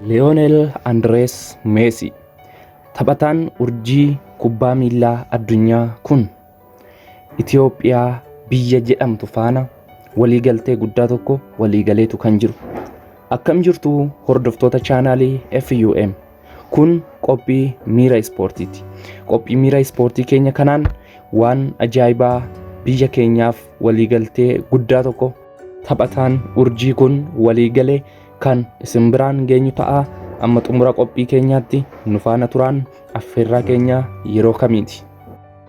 Leonel Andres Messi taphataan urjii kubbaa miillaa addunyaa kun Itoophiyaa biyya jedhamtu faana waliigaltee guddaa tokko waliigaleetu kan jiru. Akkam jirtu hordoftoota chaanaalii FUM. Kun qophii miira ispoortiiti. Qophii miira ispoortii keenya kanaan waan ajaa'ibaa biyya keenyaaf waliigaltee guddaa tokko taphataan urjii kun waliigale kan isin biraan geenyu ta'a. Amma xumura qophii keenyaatti nu faana turaan affeerraa keenya yeroo kamiiti.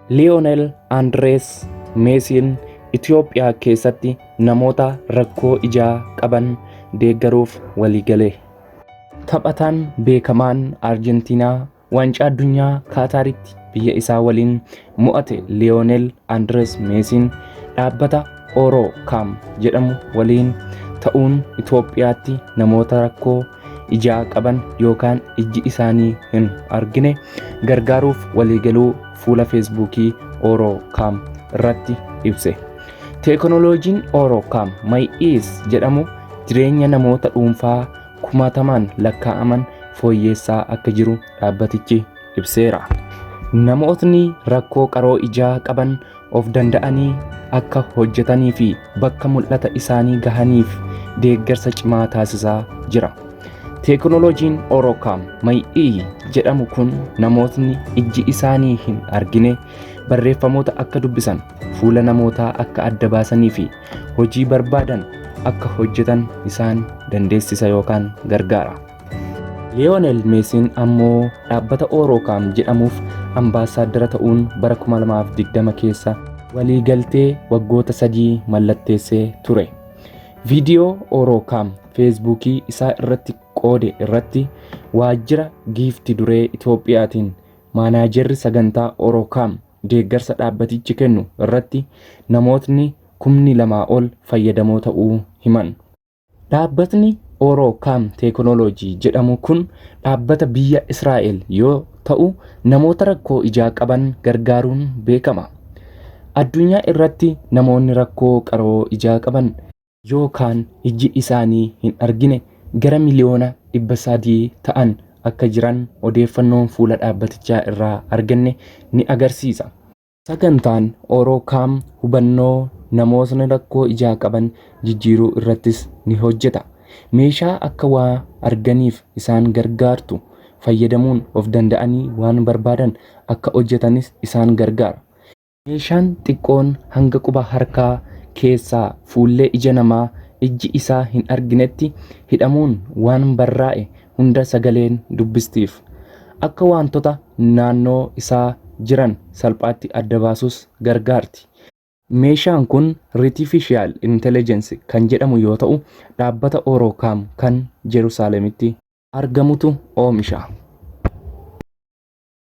Liyoonel Andirees Meesiin Itoophiyaa keessatti namoota rakkoo ijaa qaban deeggaruuf waliigale. Taphataan beekamaan Arjentiinaa waancaa addunyaa Kaataaritti biyya isaa waliin mo'ate Liyoonel Andirees Meesiin dhaabbata Oro Kaam jedhamu waliin ta'uun Itoophiyaatti namoota rakkoo ijaa qaban yookaan ijji isaanii hin argine gargaaruuf waliigaluu fuula feesbuukii Oro Kaam irratti ibse. Teekinooloojiin Oro Kaam May Is jedhamu jireenya namoota dhuunfaa kumaatamaan lakkaa'aman fooyyeessaa akka jiru dhaabbatichi ibseera. Namootni rakkoo qaroo ijaa qaban of danda'anii akka hojjetanii fi bakka mul'ata isaanii gahaniif deeggarsa cimaa taasisaa jira. Teekinooloojiin Orokaam May'ii jedhamu kun namootni ijji isaanii hin argine barreeffamoota akka dubbisan, fuula namootaa akka adda baasanii fi hojii barbaadan akka hojjetan isaan dandeessisa yookaan gargaara. Liyoonel Meesiin ammoo dhaabbata Oorookaam jedhamuuf ambaasaaddara ta'uun bara 2020 keessa waliigaltee waggoota sadii mallatteessee ture. Viidiyoo Oorookaam Feesbuukii isaa irratti qoode irratti waajjira giifti duree Itoophiyaatiin maanaajerri sagantaa Oorookaam deeggarsa dhaabbatichi kennu irratti namootni kumni lamaa ol fayyadamoo ta'uu himan. Dhaabbatni Oroo Kaam Teekinooloojii jedhamu kun dhaabbata biyya Israa'el yoo ta'u namoota rakkoo ijaa qaban gargaaruun beekama. Addunyaa irratti namoonni rakkoo qaroo ijaa qaban yookaan ijji isaanii hin argine gara miliyoona 300 ta'an akka jiran odeeffannoon fuula dhaabbatichaa irraa arganne ni agarsiisa. Sagantaan Oro-Cam hubannoo namootni rakkoo ijaa qaban jijjiiruu irrattis ni hojjeta. Meeshaa akka waa arganiif isaan gargaartu fayyadamuun of danda'anii waan barbaadan akka hojjetanis isaan gargaara. Meeshaan xiqqoon hanga quba harkaa keessaa fuullee ija namaa ijji isaa hin arginetti hidhamuun waan barraa'e hunda sagaleen dubbistiif. Akka waantota naannoo isaa jiran salphaatti adda baasus gargaarti. Meeshaan kun Ritifishiyaal Intelejensi kan jedhamu yoo ta'u, dhaabbata Oorokaam kan Jerusaaleemitti. argamutu oomisha.